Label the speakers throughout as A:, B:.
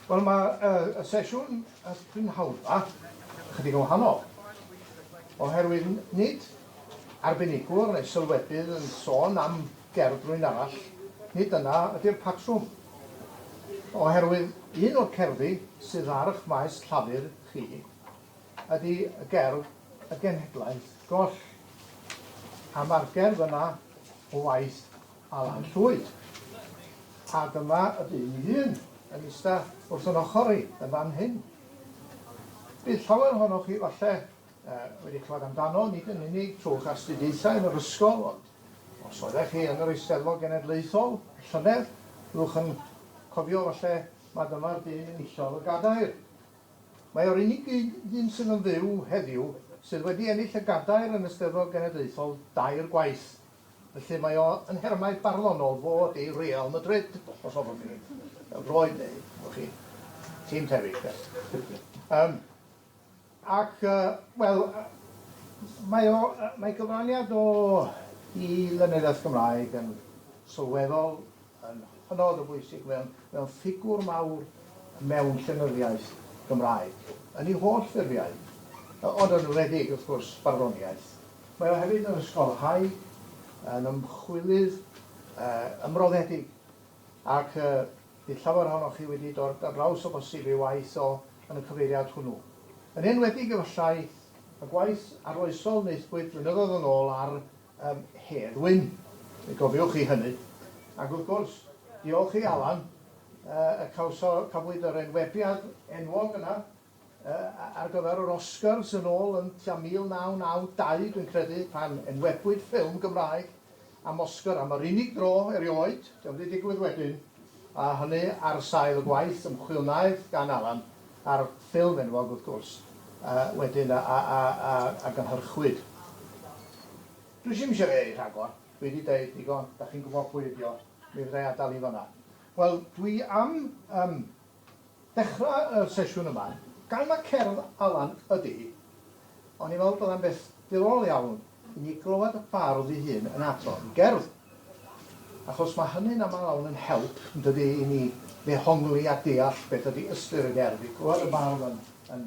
A: Wel ma' yy y sesiwn y prynhawna chydig yn wahanol oherwydd n- nid arbenigwr neu sylwebydd yn sôn am gerdd rywun arall, nid dyna ydi'r patrwm. Oherwydd un o'r cerddi sydd ar ych maes llafur chi ydi y gerdd Y Genhedlaeth Goll a ma'r gerdd yna o waith Alan Llwyd. A dyma y dyn ei hun yn ista wrth yn ochr i yn fan hyn. Bydd llawer ohonoch chi falle uh, wedi clywed amdano, nid yn unig trwy'ch astudiaethau yn yr ysgol, ond os oeddech chi yn yr Eisteddfod Genedlaethol, llynedd, byddwch yn cofio falle mae dyma'r dyn enillodd y gadair. Mae o'r unig ddyn sydd yn fyw heddiw sydd wedi ennill y gadair yn y Steddfod Genedlaethol dair gwaith, Felly mae o yn nhermau barddonol fod i Real Madrid, os hoffwch chi, pêl-droed neu, hoffwch chi, tîm tebyg de. Yym, ac, yy, wel, mae o, yy, mae cyfraniad o i lenyddiaeth Gymraeg yn sylweddol, yn hynod o bwysig, mae o'n mae o'n ffigwr mawr mewn llenyddiaeth Gymraeg, yn ei holl ffurfiau, yy, ond yn enwedig, wrth gwrs, barddoniaeth. Mae o hefyd yn ysgolhaig, yn ymchwilydd ymroddedig ac bydd llawer ohonoch chi wedi dod ar draws o bosib ei waith o yn y cyfeiriad hwnnw. Yn enwedig efallai y gwaith arloesol wnaethpwyd flynyddoedd yn ôl ar ym Hedd Wyn, fe gofiwch chi hynny. Ac wrth gwrs, diolch i Alan y cawso, cafwyd yr enwebiad enwog yna. ar gyfer yr Oscars yn ôl yn tua 1992 dwi'n credu, pan enwebwyd ffilm Gymraeg am Oscar am yr unig dro erioed, 'di o'm 'di digwydd wedyn, a hynny ar sail y gwaith ymchwil wnaeth gan Alan a'r ffilm enwog wrth gwrs wedyn a gynhyrchwyd. Dwi ddim eisiau ei rhagor, dwi 'di deud digon, 'dach chi'n gwybod pwy ydi o, mi fedra i adael hi'n fan'na. Wel, dwi am yym Dechrau y sesiwn yma gan ma cerdd Alan ydy hi. O'n i'n meddwl byddai'n beth diddorol iawn i ni glywed y bardd ei hun yn adrodd ei gerdd. Achos mae hynny'n aml lawn yn help, yn dydy, i ni ddehongli a deall beth ydy ystyr y gerdd, i glywed y bardd yn, yn,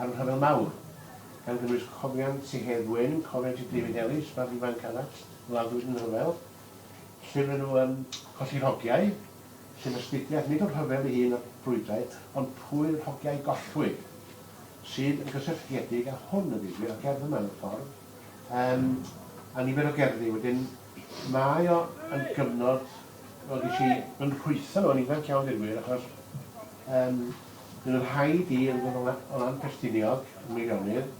B: a'r Rhyfel Mawr, gan gynnwys Cofion Tŷ Hedd Wyn, Cofion Tŷ David Ellis, Babi Ifanc Arall, Gwladwyd yn y Rhyfel, llyfr nhw am Colli'r Hogiau, sef astudiaeth nid o'r rhyfel ei hun a'r brwydrau, ond pwy'r hogiau gollwyd, sydd yn gysylltiedig â hwn a ddigwydd, a'r gerdd yma mewn ffordd, um, a nifer o gerddi. Wedyn, mae o yn gyfnod, wel, ges i yn rhwytho nhw yn ifanc iawn, dweud gwir, achos um, Bydd yn rhaid i Ynys Môn Ffestiniog y Meirionnydd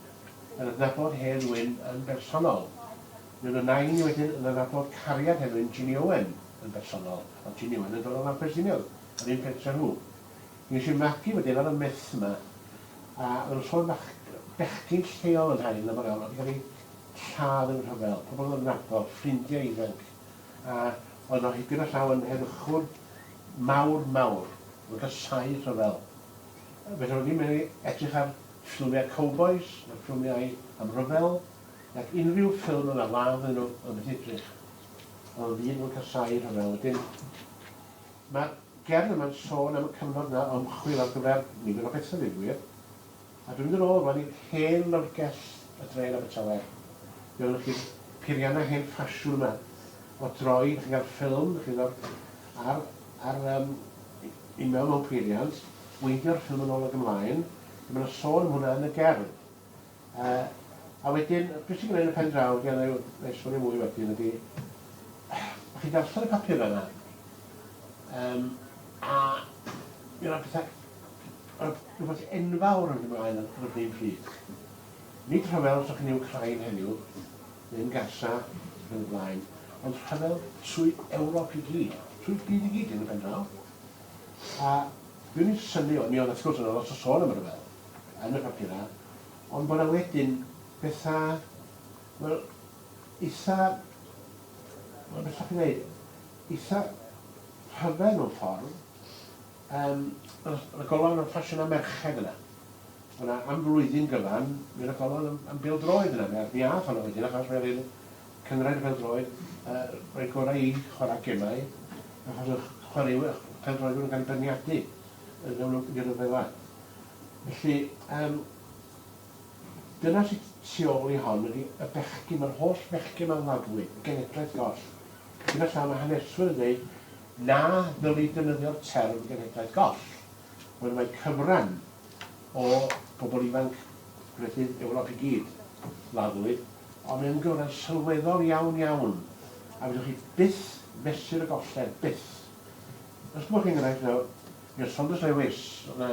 B: yn adnabod Hedd Wyn yn bersonol. Mi fyddai ni wedyn yn adnabod cariad Hedd Wyn, Ginny Owen, yn bersonol, ond Ginny Owen yn dod o Nant Ffestiniog, yr un pentre â nhw. Mi ges i magu wedyn ar y myth 'ma, a oedd y sôn fach bechgyn lleol yn Nhair yn aml iawn, oedd 'di cael ei lladd yn y rhyfel, pobl oedd yn adnabod, ffrindiau ifanc. A oedd o hyd gyda llaw yn heddychwr mawr, mawr. Oedd o'n casáu rhyfel. Felly roedd hi'n medru edrych ar ffilmiau cowbois, ar ffilmiau am ryfel, ac unrhyw ffilm yn ladd iddyn nhw, oedd o'n methu edrych. Oedd o'n ddyn oedd yn casáu rhyfel. Wedyn, mae'r gerdd yma'n sôn am y cyfnod yna o ymchwil ar gyfer nifer o bethau, dweud y gwir. A dwi'n mynd yn ôl rwan i'r hen lyfrgell y dre yn Abertawe. Fe welwch chi'r peirianna hen ffasiwn yma. O droi, chi'n cael ffilm, chi'n gweld, ar, ar um, i mewn mewn peiriant, weithio'r ffilm yn ôl ag ymlaen. Mae yna sôn am hwnna yn y gerdd. Uh, a wedyn, beth sy'n gwneud yn y pen draw, ydy, a na i esbonio mwy wedyn, ydy, chi'n darllen y papur yna, um, a mi yna pethau Mae rhywbeth enfawr yn mynd ymlaen yn yr un pryd. Nid rhyfel rhwng yn Wcráin heddiw, neu'n Gaza ac yn y blaen, ond rhyfel trwy Ewrop i gyd, trwy'r byd i gyd yn y pendraw. A dwi ddim yn synnu, mi oedd wrth gwrs yna lot o sôn am y rhyfel yn y papurau, ond bod yna wedyn bethau, wel, eitha, wel, beth allwch chi ddeud, eitha rhyfedd mewn ffordd, Yym, o'dd 'na golofn am ffasiynau merched yna. O'dd 'na, am flwyddyn gyfan, mi o'dd 'na golofn am am bêl-droed yna, mi ath mi ath honno wedyn achos fe fydd cynghrair y bêl-droed yy roi gorau i chwara' gemau achos o'dd chwaraewyr pêl-droedwyr yn cael 'u beirniadu yn mewn rw- unrhyw ryfela. Felly, yym, dyna sy' tu ôl i hon ydi y bechgyn, ma'r holl fechgyn 'ma'n laddwyd, genedlaeth goll. Dyna llaw ma' haneswyr yn deud, Na ddylid defnyddio'r term 'genhedlaeth goll', ond mae cyfran o bobl ifanc gwledydd Ewrop i gyd, laddwyd, ond mae o'n gyfran sylweddol iawn, iawn, a fedrwch chi byth fesur y golled, byth. Os gymwch chi enghraifft nawr, mi oedd Saunders Lewis, yna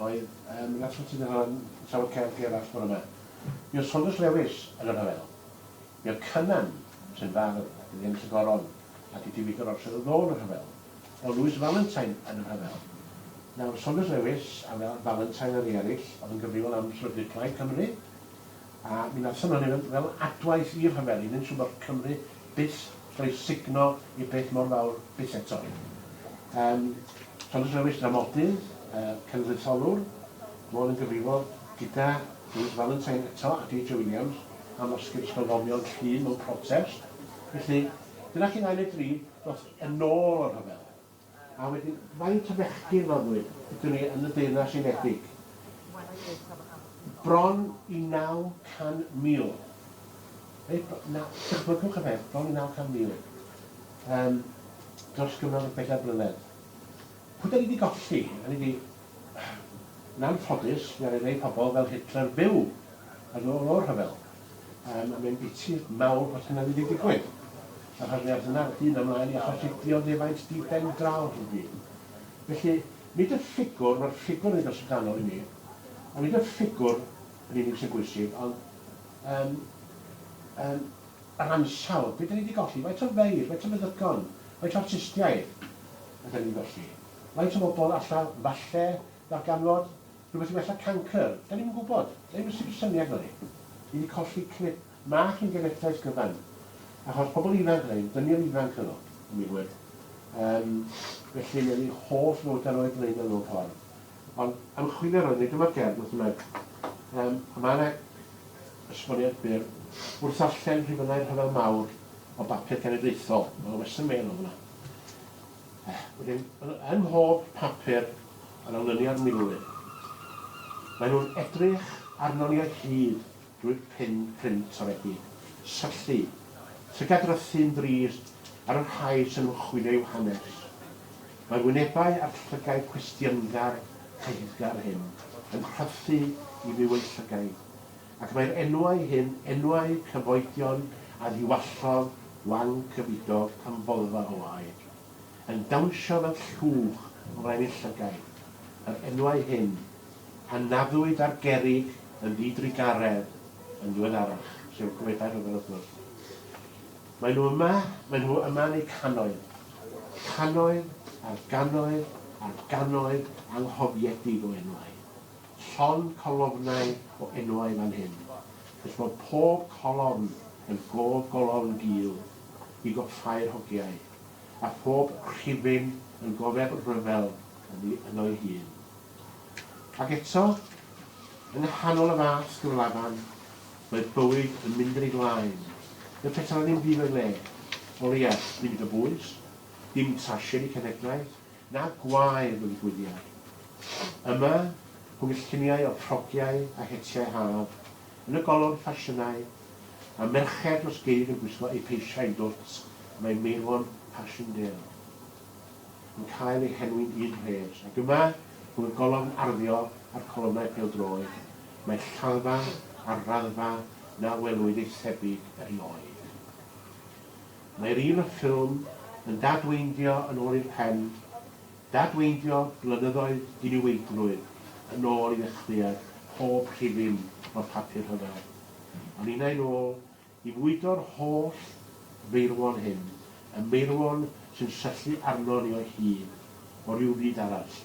B: oedd um, Nathan Tyndall yn trafod cerdd gerallt bore yma, mi oedd Saunders Lewis yn y rhyfel. I'r Cynan, sy'n fardd, ac yn Iemys y Goron, ac i David yr Orsedd o Ddo yn y rhyfel, o Lewis Valentine yn y rhyfel. Nawr, Saunders Lewis a Valentine a rhei eraill oedd yn gyfrifol am sefydlu Plaid Cymru, a mi nathon nhw hynny fel, fel adwaith i'r rhyfel, i wneud siŵr bod Cymru byth rhoi signo i beth mor fawr byth eto. Um, Saunders Lewis, dramodydd, uh, cenedlaetholwr, fod yn gyfrifol gyda Lewis Valentine eto a DJ Williams, am yr sgyrsiau ddoniol cyn mewn protest. Felly, dyna chi'n ail neu dri dros yn ôl o'r rhyfel. A wedyn, faint o fechgyn roddwyd iddyn ni yn y Deyrnas Unedig? Bron i 900,000. Reit, na, dychmygwch y peth, bron i 900,000 um, dros gyfnod o bedair blynedd. Pwy da ni wedi golli? Da ni wedi Yn anffodus, fe aru rei pobl fel Hitler fyw yn ôl o'r rhyfel. Yym, a mae'n biti mawr bod hynna wedi digwydd, achos fe aeth hynna hyd ymlaen i achosi dioddefaint di-ben draw i'r byd. Felly, nid y ffigwr, mae'r ffigwr yn eitha' synddanol i mi, ond nid y ffigwr yn unig sy'n bwysig, ond yym yym yr ansawdd, be' 'dan ni 'di golli? Faint o feirdd, faint o feddygon, faint o artistiaid ydan ni'n golli? Faint o bobl alla falle ddarganfod rhywbeth i wella cancr? Dan ni'm yn gwybod. Dan ni'm yn sicr syniad gynnon ni. Ni 'di colli clip mach i'n genedlaeth gyfan. Achos pobl ifanc oedd ein dynion ifanc oedd o, yn wir wed. Yym, felly mi oedd eu holl fywydau nhw eu blaenau nhw mewn ffordd. Ond ymchwilio roeddwn i, dyma'r gerdd wrth ymlaen. Yym, a mae yna esboniad byr wrth ddarllen rhifynnau'r rhyfel mawr o bapur cenedlaethol. Mae yna western mail o fanna. Wedyn, ym mhob papur yn olynu ar milwyr, maen nhw'n edrych arnon ni o hyd drwy'r pin print toredig, syllu, llygad-rythu'n drist ar y rhai sy'n ymchwilio i'w hanes. Mae'r wynebau a'r llygaid cwestiyngar, caethgar hyn yn rhythu i fyw yn llygaid. ac mae'r enwau hyn, enwau cyfoedion a ddiwallodd Wang Cyfidog amfoddfa o air, yn dawnsio fel llwch wren ei llygaid, yr enwau hyn a naddwyd ar gerrig yn ddidrugaredd yn ddiweddarach, sef y comedau rhyfel wrth gwrs. Maen nhw yma, maen nhw yma yn eu cannoedd, cannoedd ar gannoedd ar gannoedd anghofiedig o enwau. Llond colofnau o enwau fan hyn. Gall fod pob colofn yn gof golofn gul i goffáu'r hogiau, a phob rhifyn yn gofeb rhyfel oddi yno'i hun. Ac eto, yng nghanol y fas gyflafan, mae bywyd yn mynd yn ei flaen. Mae petal yn mynd i fy le. O leia, dim dibwys, dim trasied i cenhedlaeth, na gwae mewn gwyliau. Yma, rhwng y lluniau o ffrogiau a hetiau haf, yn y golofn ffasiynau, a merched dros geid yn gwisgo eu peisiau dwt, mae Meirwon Passchendaele yn cael ei henwi'n un rhes, ac yma, rhwng y golofn arddio a'r colofnau pêl-droed, mae lladdfa ar raddfa na welwyd ei thebyg erioed. Mae'r un a ffilm yn dadweindio yn ôl i'r pen, dadweindio blynyddoedd diniweidrwydd yn ôl i ddechreuad pob rhifyn o'r papur rhyfel, a ninnau'n ôl i fwydo'r holl feirwon hyn, y meirwon sy'n syllu arnon ni o hyd, o ryw fyd arall,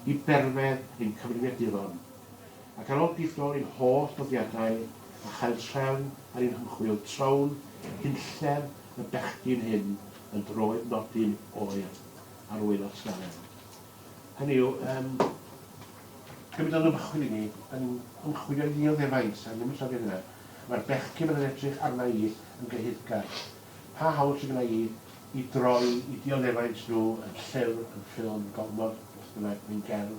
B: i berfedd ein cyfrifiaduron. Ac ar ol gydol ein holl nodiadau a chael trefn ar ein hymchwil trown hunllef y bechgyn hyn yn droed nodyn oer ar ŵyl yr ysgafn. Hynny yw, yym, be bydd o'n ymchwil i ni, yn ymchwilio i ddioddefaint, a ddim yn llofio hynna. Mae'r bechgyn fydd yn edrych arna i yn gyhuddgar. Pa hawl sydd gynna i i droi i dioddefaint nhw yn llyfr, yn ffilm, yn gofnod, beth bynnag, neu'n gerdd?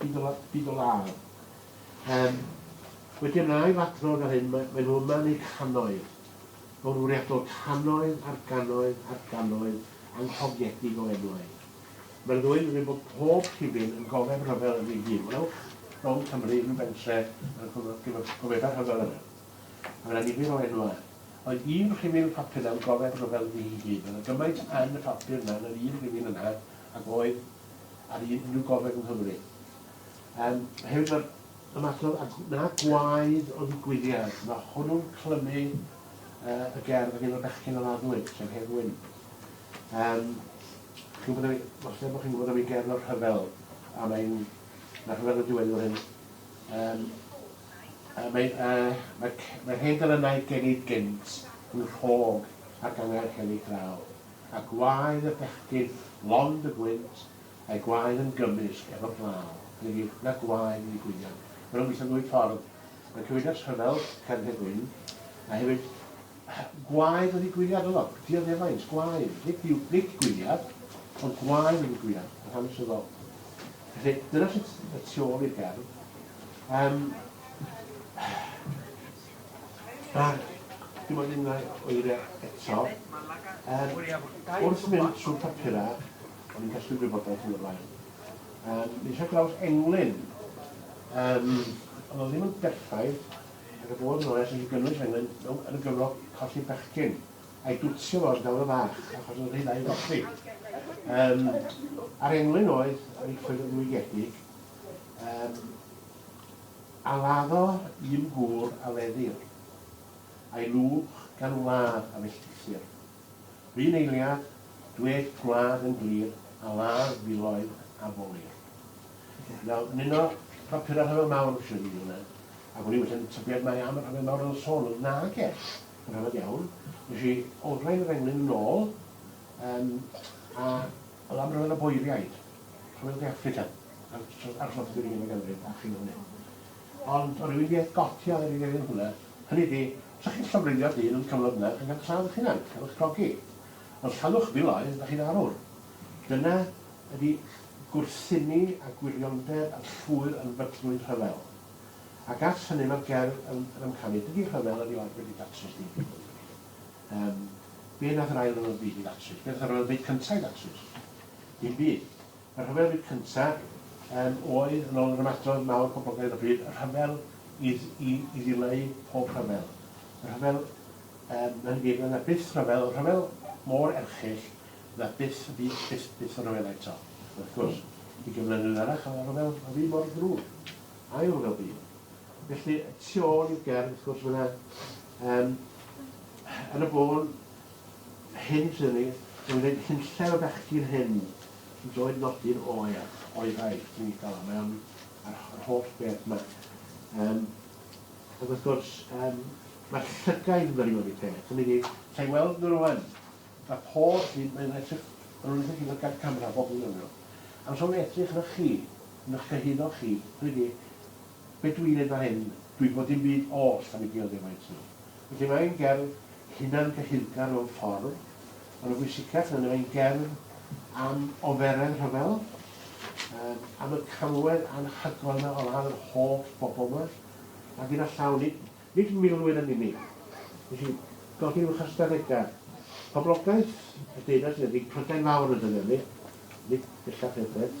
B: Byd o law. Yym, wedi yn ail adrodd ar hyn, mae, mae nhw yma yn eu cannoedd. Mor fwriadol, cannoedd ar gannoedd ar gannoedd anghoffiedig o enwau. Mae'r ddwy yn gwneud bod pob rhifyn yn gofeb rhyfel yn ei hun. Welwch, rhwng Cymru, rhyw bentre, a'r gofebau rhyfel yna. A mae yna nifer o enwau. Oedd un rhifyn y papur yna yn gofeb rhyfel yn ei hun. Oedd yna gymaint yn y papur yna, yn yr un rhifyn yna, ac oedd ar unrhyw gogledd yng Nghymru. Um, hefyd mae'r ymatho a na gwaed o ddigwyddiad. Mae hwnnw'n clymu uh, y gerdd ac un o'r bechgyn o'r addwyd, sef Hen Wyn. Um, chi'n gwybod, os lle bod chi'n gwybod am ei gerdd o'r rhyfel, a mae'n mae rhyfel y diwedd o'r hyn. Um, uh, mae, uh, mae, mae hen dylynau genid gynt yn rhog ac angerdd heli draw. A gwaed y bechgyn lond y gwynt, a'i gwaed yn gymysg efo glaw, hynny yw, na gwaed ni gwynion. Maen nhw'n gweithio'n ddwy ffordd. Mae'n cyfeirio'r rhyfel, cerdded gwyn, a hefyd gwaed wedi gwyniad yno, dioddefaint, gwaed, nid yw nid gwyniad, ond gwaed wedi gwyniad, yn hanesyddol. Felly, dyna sut y tu ôl i'r gerdd. Um, Ac dim ond unwaith oeria eto, er, wrth mynd trwy papurau, o'n i'n casglu gwybodaeth yn y blaen. Um, mi eisiau draws englyn. Um, ond oedd ddim yn berffaith, ac y bod yn oes yn gynnwys englyn mewn yn y gyfro colli bechgyn, a'i dwtsio fo yn dawr y fach, achos oedd rhy ddau golli. Um, a'r englyn oedd, yn ei ffwrdd yn ddwygiedig, um, A laddo un gŵr a leddir. A'i lwch gan wlad a felltithir. R'un eiliad, dwed gwlad yn glir, a ladd filoedd a bolir. Nawr, yn un o bapurau Rhyfel Mawr, mae'n siŵr i hwnna, ac o'n i wella'n tybied mai am y Rhyfel Mawr oedd yn sôn, ond nage, yn rhyfedd iawn. Nes i olrhain yr englyn yn ôl, um, a oedd am ryfel y boeriaid, Rhyfel De Affrica. ar dros yr ugeinfed ganrif a chyn hynny. Ond o ryw un i atgofio ar yr ugeinfed mlynedd, hynny ydi, sa chi'n llofruddio dyn am cyfnod mlynedd ac yn cael lladd eich hunan, cael eich grogi. Os llannwch filoedd, da chi'n arwr. Dyna ydi gwrthsynnu a gwiriondeb a llwyr yn fytlwyd rhyfel. Ac at hynny mae'r gerdd yn yn amcanu, dydi rhyfel erioed wedi datrys dim byd yn ddi. Yym, be nath yr Ail Ryfel Byd i ddatrys? Be nath y Ryfel Byd Cynta' i ddatrys? Dim byd. Y rhyfel byd cyntaf yym oedd, yn ôl yr ymadrodd mawr poblogaidd o bryd, y rhyfel i i i ddileu pob rhyfel. Y rhyfel um, yn gyd, yna byth rhyfel, y rhyfel mor erchyll na byth, byth, byth, byth y rhyfel eto. Wrth gwrs, i gyflenwyr arach, y rhyfel y fi mor ddrwg. Ail rhyfel byd. Felly, tu ôl i'w gerdd, wrth gwrs, mae yna um, yn y bôn hyn sydd ni, yn gwneud hunllef y bechgyn hyn Doedd nodyn oer o'i ddaith ddim i gael mewn a'r holl beth ma. Yym, ac wrth gwrs, yym, mae'r llygaid yn dod i peth. Hynny ydi, sa'i weld nhw rwan. Mae pob hyn, mae'n edrych, maen nhw'n edrych i fod gan camera, bob un o'n nhw. Amser nhw'n edrych arnoch chi, yn eich cyhuddo chi, hynny ydi, Be dw i'n neud fan hyn? Dw i'n gwbod dim byd oll am y geodefaint yno. Felly mae ein gerdd hunangyhuddgar mewn ffordd, ond y bwysicach na hynny, mae ein gerdd am oferedd rhyfel, yym, am y camwedd anhygoel yna o ladd yr holl bobl yma, a gyda llaw, nid, nid milwyr yn unig. Felly, fel hyn yw'ch ystadegau. Poblogaeth y Deyrnas Unedig, Prydain Fawr ydyn ni, nid bellach Ewrop.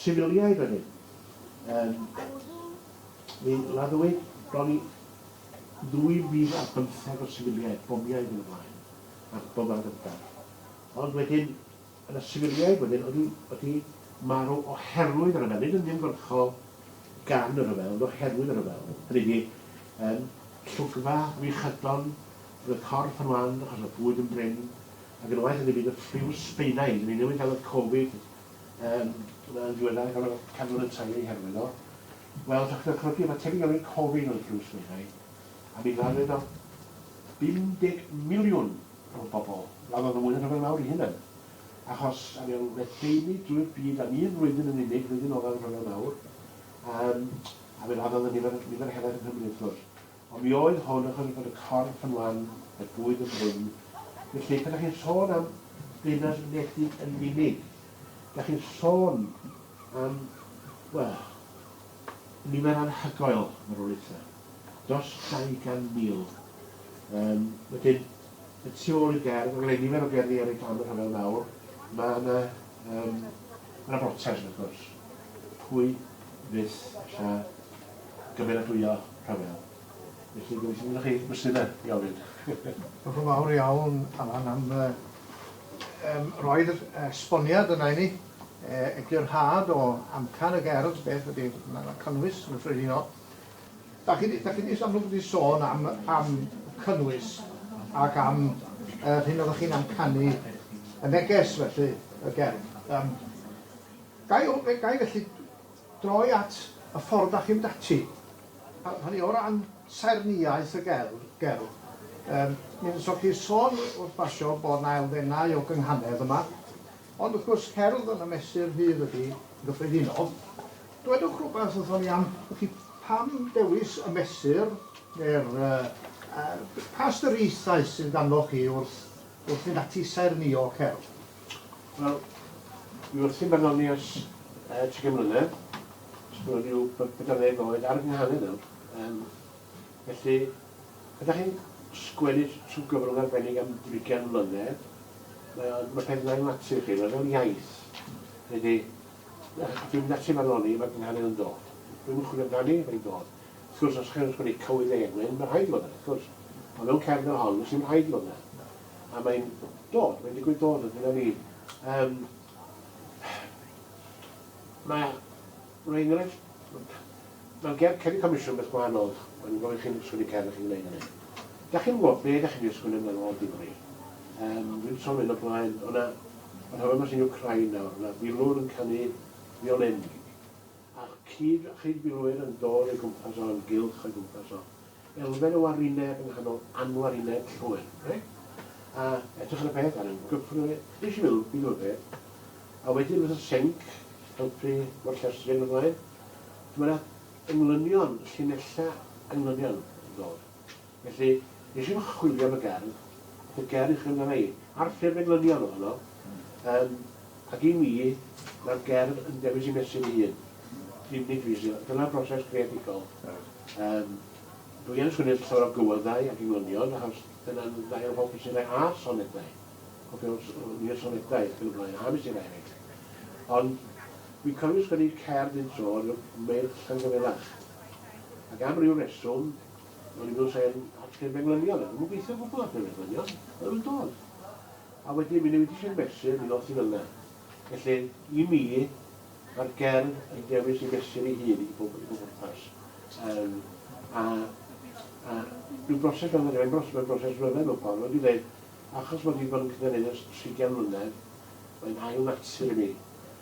B: Sifiliaid wedyn. Yym mi laddwyd bron i 2,500 o sifiliaid, bomiau ag yn y blaen, a'r Bombau Gynta'. Ond wedyn, o' 'na sifiliaid wedyn o'dd 'di o'dd 'di marw oherwydd y rhyfel, nid yn uniongyrchol gan y rhyfel, ond oherwydd y rhyfel. Hynny 'di, yym, llogfa wych ydon, o'dd y corff yn wan achos o'dd y bwyd yn brin, ag yn waeth iddi fynd y ffliw sbeinaidd, 'dyn ni newydd ga'l y Covid, Yn ddiweddar, gan fod cadwyn yn talu eu herwydd o, wel, dach chi'n ychwanegu ma' tebyg iawn i'r cofyn oedd drws meddai, a mi gladdodd o 50 miliwn o bobl, gladdodd o mwy na rhyfel mawr ei hunan, achos a mi o'n ledaenu drwy'r byd am un flwyddyn yn unig, flwyddyn olaf y rhyfel mawr, yym, a mi laddodd y nifer, nifer helaeth yng Nghymru wrth gwrs. Ond mi oedd hwn yn golygu bod y corff yn wan, y bwyd yn brin. Felly, pan dach chi'n sôn am ddinas wledig yn unig, dach chi'n sôn am, wel, nifer anhygoel marwolaethau. Dros 200,000. Um, wedyn, y tu ôl i'r gerdd, mae gen nifer o gerddi ar ei dan y rhyfel mawr, mae yna, um, mae yna brotest, wrth gwrs. Pwy fyth lle gymeradwyo rhyfel. Felly gobeithio fyddoch chi brysur de i ofyn. Diolch yn fawr
A: iawn Alan am y yym roedd yr esboniad yna i ni yy eglurhad o amcan y gerdd beth ydi ma' ma' cynnwys yn gyffredinol. Dach chi di dach chi di jyst amlwg wedi sôn am am cynnwys ac am yr hyn oddach chi'n amcanu y neges felly y gerdd yym gai o- gai felly Droi at y ffordd dach chi'n mynd ati. Hynny o ran saernïaeth y gerdd, gerdd. Yym, mi wnaethoch chi sôn wrth basio bod 'na elfennau o gynghanedd yma, ond wrth gwrs cerdd yn y mesur rhydd ydi yn gyffredinol. Dwedwch rwbath wrthon ni am felly pam dewis y mesur ne'r yy yy pa ystyriaethau sydd ganddoch chi wrth wrth fynd ati i saernïo cerdd? Wel,
B: dwi wrthi'n barddoni ers yy trigen mlynedd. Os ma' 'na ryw be- pedwar ddeg oed ar 'y nghane nawr. Yym, felly, pan 'dach chi'n sgwennu t- trw gyfrwng arbennig am drigen mlynedd, mae o'n ma' peth yn ail natur chi, mae fel iaith. Hynny 'di, yy dwi mynd ati i farddoni, ma' fy nghane yn dod. Dwi'm yn chwilio amdani, mae'n dod. Wrth gwrs, os 'dych chi'n sgwennu Cywydd Eglyn, ma' rhaid i fod 'na, wrth gwrs. Ond mewn cefn fel hon, does dim rhaid i fod 'na. A mae'n dod, mae'n digwydd dod o dyna ni. Um, mae, rhoi enghraifft, mae'n ger ceri comisiwn beth gwahanol, mae'n gofyn chi'n sgwini cer chi'n gwneud hynny. Da chi'n gwybod be da chi'n sgwini yn ôl difri. Um, Dwi'n sôn yn y blaen, o'na, yr hofyn mas yn Ukraina, o'na filwr yn canu violin. Ac cyd a chyd milwyr yn dod o'i gwmpas o, yn gylch o'i gwmpas o. Elfen o warineb yng nghanol anwarineb llwyr. Reit? A edrych ar y peth ar yn gyffrous. Nes i meddwl, beth yw'r peth? A wedyn fatha senc, helpu o'r llestri ac yn y blaen. Dyma 'na englynion, llinella englynion yn dod. Felly, nes i'm chwilio am y gerdd, ath y gerdd i chwilio amdana i, a'r ffurf englynion ohono, yym, ac i mi, mae'r gerdd yn dewis ei mesur ei hun. Unig fi sydd â... Dyna'r broses greadigol. Yym, dwi yn sgwennu llawer o gywyddau ac englynion, achos dyna'n ddau o'r hoff fesurau, a sonedau. Cofio, o'n i'n sonedau ac yn y blaen, a mesurau eraill. Ond, fi'n cofio sgwennu cerdd un tro, ryw Meirch Llangyfelach. Ac am ryw reswm, O'n i'n meddwl sa i'n hacio'r menglynion, a dwi'm yn gweithio o gwbl ar menglynion, a ddim yn dod. A wedyn mi newid i Sir Mesur, mi ddoth i fel 'na. Felly, i mi, mae'r gerdd yn dewis i mesur ei hun i bob, i bob pwrpas. Um, a, a rhyw broses fel yna, mae'n broses, mae'n broses ryfedd mewn ffordd, wedi dweud, achos bod wedi bod yn cynnig ers 30 mlynedd, mae'n ail natur i mi.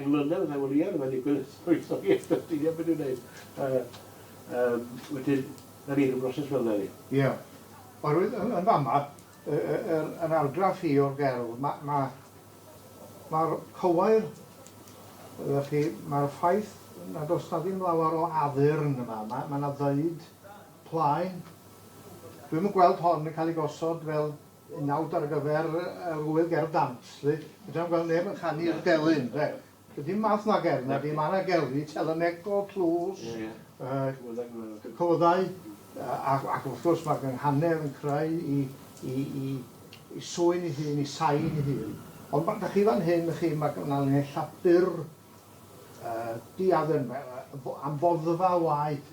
B: Yn London a Wel ie rwy'n digwydd rhwytho i eto ti ie beth i'w wneud yy yym wedyn na ni ryw broses fel yna ydi? Ie wel rwy'n
A: yn yn fama yy yy yr yn argraff i o'r gerdd ma' ma' ma'r cywair ydach chi ma'r ffaith nad o's na ddim lawer o addurn yma ma' ma' na ddeud plaen dwi'm yn gweld hon yn ca'l ei gosod fel Nawr ar gyfer yr ŵyl ger dant 'lly, fedrai'm gweld neb yn canu i'r delyn ynde. Does dim math 'na gerdd nadi, ma' 'na gerddi telynegol, tlws, yy cywyddau a ac wrth gwrs ma' gynghanedd yn creu 'i 'i 'i 'i swyn 'i hun, 'i sain 'i hun. Ond ma' 'da chi fan hyn y'ch chi ma' ma' 'na linella' byr yy diaden yy yy fo- am foddfa o waed.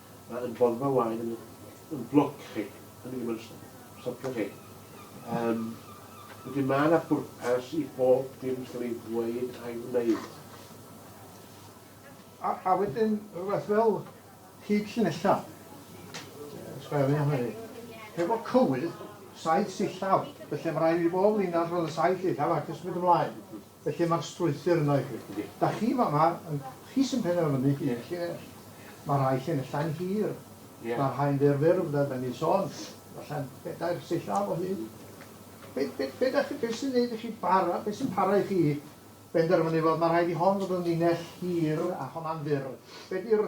B: Mae yn droddfa waed yn yn blwc chi, hynny ddim yn stopio chi. Um, wedyn mae yna bwrpas i bob dim sy'n ei ddweud a'i wneud.
A: A, a wedyn rhywbeth fel hyd llinella. Sgwara fi am hynny. Hefo cywydd, saith sillaf, felly mae rhaid i bob linell fod yn saith sillaf ac ysmud ymlaen. Felly mae'r strwythur yno i chi. Da chi fama, chi sy'n penderfynu un llinell. Mae rhai llinellau'n hir, mae rhai'n fyr fyr, fel da ni'n sôn, falle bedair sillaf o hyd. Be, be, be, da chi, be sy'n neud i chi bara, be sy'n para i chi benderfynu, wel, mae rhaid i hon fod yn linell hir a honna'n fyr. Be di'r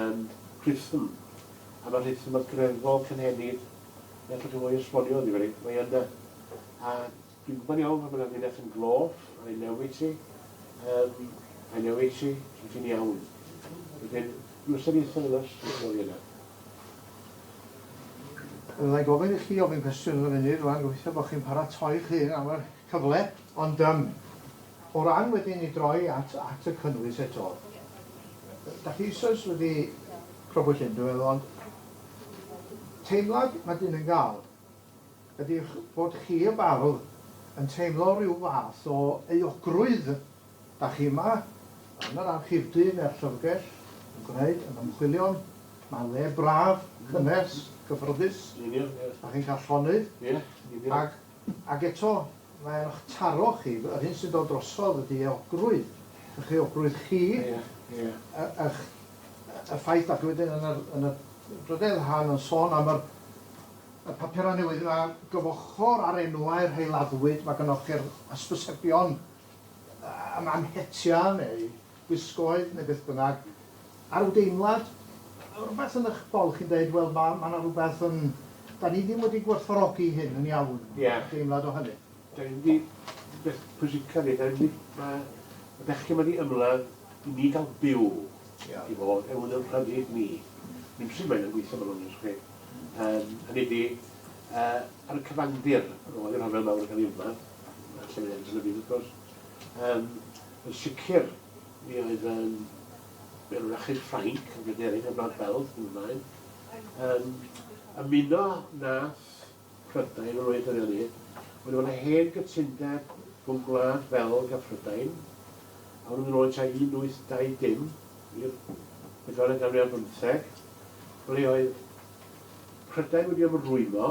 B: yn rhythm, a mae rhythm y greddf cynhenid, neu allwch chi roi esbonio iddi fi, mae yna, a dwi'n gwybod iawn pan mae'n amlinell yn glof, I know it i, um, I know it i, so ti'n iawn. Wedyn, rhyw ystyriaethau yna, sy'n o'r yna. Fydda
A: i'n gofyn i chi ofyn cwestiwn yn y funud rwan, gobeithio bod chi'n paratoi'ch hun am yr cyfle, ond yym o ran wedyn i droi at at y cynnwys eto, dach chi eisoes wedi crybwyll hyn dwi'n meddwl ond teimlad ma' dyn yn ga'l ydi y'ch bod chi y bardd yn teimlo ryw fath o euogrwydd, dach chi yma yn yr archifdy ne'r llyfrgell yn gwneud yn ymchwilion, ma'n le braf, cynnes, cyffyrddus, dach chi'n ca'l llonydd ag Ac eto, mae arnoch taro chi, yr hyn sy'n dod drosodd ydy euogrwydd, eich euogrwydd chi, eich... y ffaith dach chi wedyn yn yr... yn y drydedd rhan yn sôn am yr... y papurau newydd yma, gyfochor ar enwau'r rhai laddwyd, mae gynnoch chi'r hysbysebion am am hetia' neu gwisgoedd neu beth bynnag, a ryw deimlad, rywbeth yn eich bol chi'n dweud, wel, ma' ma' 'na rywbeth yn... 'dan ni ddim wedi gwerthfawrogi hyn yn iawn, deimlad o hynny?
B: Dan
A: ni wedi, y peth
B: pwysica yw, dan ni wedi, ma' y bechgyn ma' di ymladd i ni ga'l byw i fod yn ein rhyddid ni. Dim sut mae'n gweithio ma'n onest i chi. Yym, hynny ydi, yy, ar y cyfandir, roedd y rhyfel mawr yn ca'l ei ymladd, a lle mae e'n sefydlu wrth gwrs, yym, Yn sicr, mi oedd yym y Wrachyn Ffrainc, yn Bryderig a Mab Belg yn y blaen, yn ymuno nath Prydain, yr oedd hynny, wedi bod yn hen gytundeb rhwng Gwlad Belg a Phrydain, a hwnnw'n mynd yn ôl tua 1820 i'r bedwaredd ganrif ar bymtheg, ble oedd Prydain wedi ymrwymo,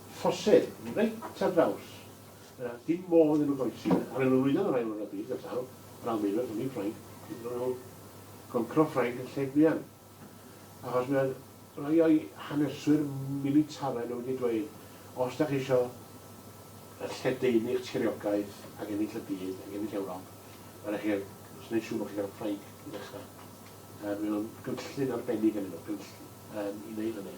B: Ffosydd, reit ar draws. Dim modd iddyn nhw groesi. Ar ôl lwyddo yn yr Ail Ryfel Byd, fel sawl o'r Almaenwyr, hynny yw Ffrainc, dylai nhw goncro Ffrainc yn lle Gwian. Achos mae rhai o'i haneswyr militaraidd nhw wedi dweud, os da chi eisiau lledaenu'ch tiriogaeth ac ennill y byd ac ennill Ewrop, mae rhaid i chi gwneud siŵr bod chi'n cael Ffrainc i ddechrau. Mae o'n gynllun arbennig gennyn nhw, gynllun i wneud hynny.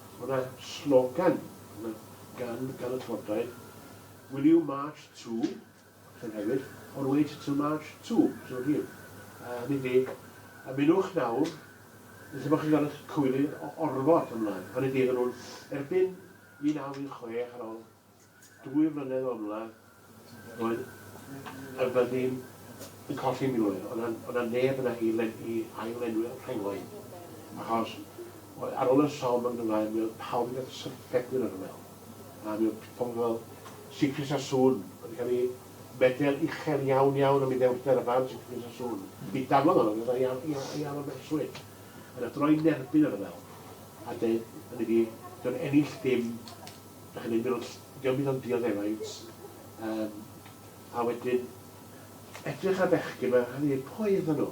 B: Mae yna slogan gan gan y Llywodraeth, Will you march to? Llyn Hewyd, or wait to march to Sir Fôn. Hynny ydi, ymunwch nawr, neu lle bod chi'n cael eich cywilydd o orfod ymlaen. Hynny ydi, fyddan nhw'n erbyn 1916 ar ol Dwy flynedd o'r mla roedd y fyddin yn colli miloedd, oedd 'na oedd 'na neb yna i le- i ail-lenwi'r rhengoedd, achos oedd ar ôl y Somme yn Gymraeg mi oedd pawb yn gallu syrffedu yn y rhyfel, a mi oedd pobl fel Siegfried Sassoon wedi cael ei medel uchel iawn iawn am ei ddewrder, y fardd Siegfried Sassoon, mi daflodd honno gyda ei al- ei al- ei alw'n berswyd, yn athro i nerbyn y rhyfel, a deud, hynny ydi, 'di o'n ennill dim Dach chi'n mynd mewn ll- dio'm byd ond dioddeffaint yym a wedyn edrych ar bechgyn ma' rhai' ddeud pwy oeddan nhw?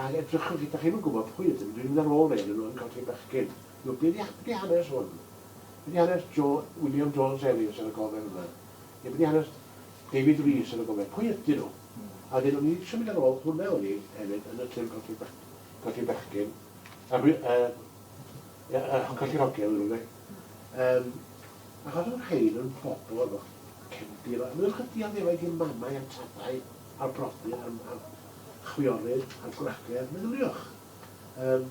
B: Ag edrychwch chi dach chi'm yn gwbod pwy ydyn nhw dwi'n mynd ar ôl rei o'nyn nhw yn colli bechgyn. Y'know be' 'di ha- be' 'di hanes hwn? Be' 'di hanes Jo- William Jones Ellis ar y gofe fan 'na? Ne' be' 'di hanes David Rees ar y gofe? Pwy ydyn nhw? A wedyn o'n i isio mynd ar ôl hwnna o'n i hefyd yn y llyfr colli bech- colli bechgyn a gwe- yy Ie, yy yn colli'r hogie ydyn nhw ynde? Yym, ac oedden nhw'n rhein yn bobl efo cefndir, a maen nhw'n dioddefau i mamau a tadau a'r brodyr a'r, a'r chwiorydd a'r gwragedd, meddyliwch. Yym,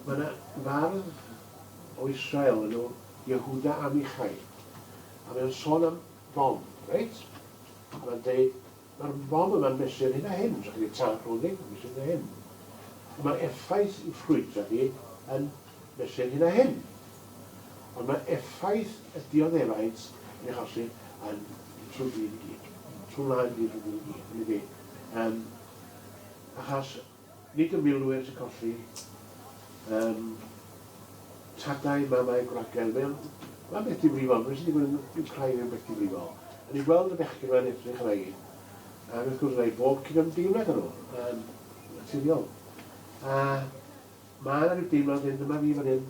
B: mae yna fardd o Israel yn nhw, Yehuda Amichai, a mae'n sôn am Dom, reit? A mae'n dweud, Mae'r modd yma'n mesur hyn a hyn, os ychydig tân clothing, yn mesur hyn a hyn. Ond mae'r effaith i ffrwydra ni yn mesur hyn a hyn. Ond mae effaith y dioddefaint yn eich achosi yn trwy byd i gyd. Trwy wlad i gyd, trwy byd i gyd. Yn dydi? Um, achos Nid y milwyr sy'n colli yym tadau, mamau, gwragedd. Mae o'n... Mae'n beth difrifol. Be sy'n digwydd yn Wcráin yn beth difrifol. A ni'n gweld y bechgyn yma'n edrych arna i. Ac wrth gwrs, yna i bob cydymdeimlad â nhw, yn naturiol. A mae yna rhyw deimlad hyn, dyma fi fan hyn,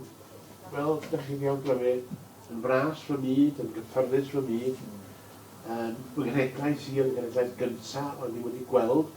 B: fel ydych chi'n iawn glyfu, yn fras fy myd, yn gyffyrddus fy myd, yn fy nghenhedlaeth sir, yn genhedlaeth gyntaf o'n i wedi gweld,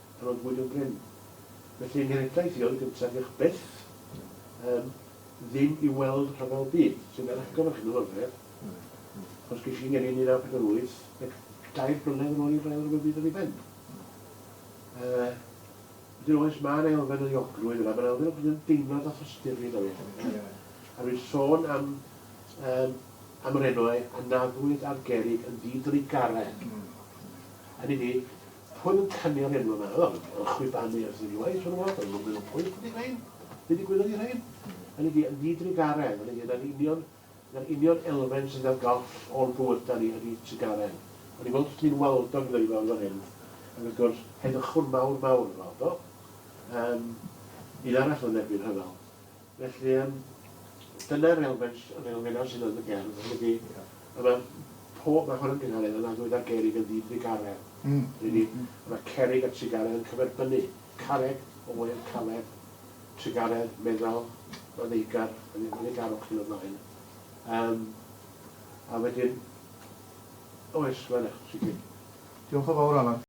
B: Rhoddwyd yn brin. Felly mi replais i oedd gyntaf diolch byth yym ddim i weld rhyfel byd sy'n cael eich gofyn chi mewn orfedd achos gysi ngeni yn 1948 ac dair blynedd yn ôl i'r ail rhyfel byd yn ei ben. Yy wedyn oes mae'n elfen o ddiogrwydd yna, mae'n elfen o bod yn deimlad a thosturi yna fi. A rwy'n sôn am um, am yr enwau anaddwyd a'r gerig yn didrigaren. Hynny ni, Hwn yn canu am enw yma, wel, yn chwibanu ers unwaith, siŵr o fod, yn lwfyn o pwyll ydi rhein, be ddigwyddodd i rhein? Hynny ydi, yn ddi-drugaredd, hynny ydi, na'r union, na'r union elfen sydd ar goll o'n bywyda ni ydi trugaredd. O'n i'n gweld os ti'n waldog yn dod i fewn fan hyn, ac wrth gwrs, heddychwn mawr, mawr yn waldog. Yym, un arall yn erbyn rhyfel. Felly yym dyna'r elfen yr elfen 'na sydd yn y gerdd yn dydi? A ma' pob ma' hwn yn gynhadledd yn annwyd ar gerrig yn ddydd Ddydd Garreg. Mm. Dydi? Mm. A ma' cerrig a trugaredd yn cyferbynnu. Carreg, oer, caled, trugaredd, meddal, ma' ddeigar, yn yn ei garwch yn y blaen. Um, a wedyn, oes,
A: ma' yna, sicr. Diolch yn
B: fawr, Alan.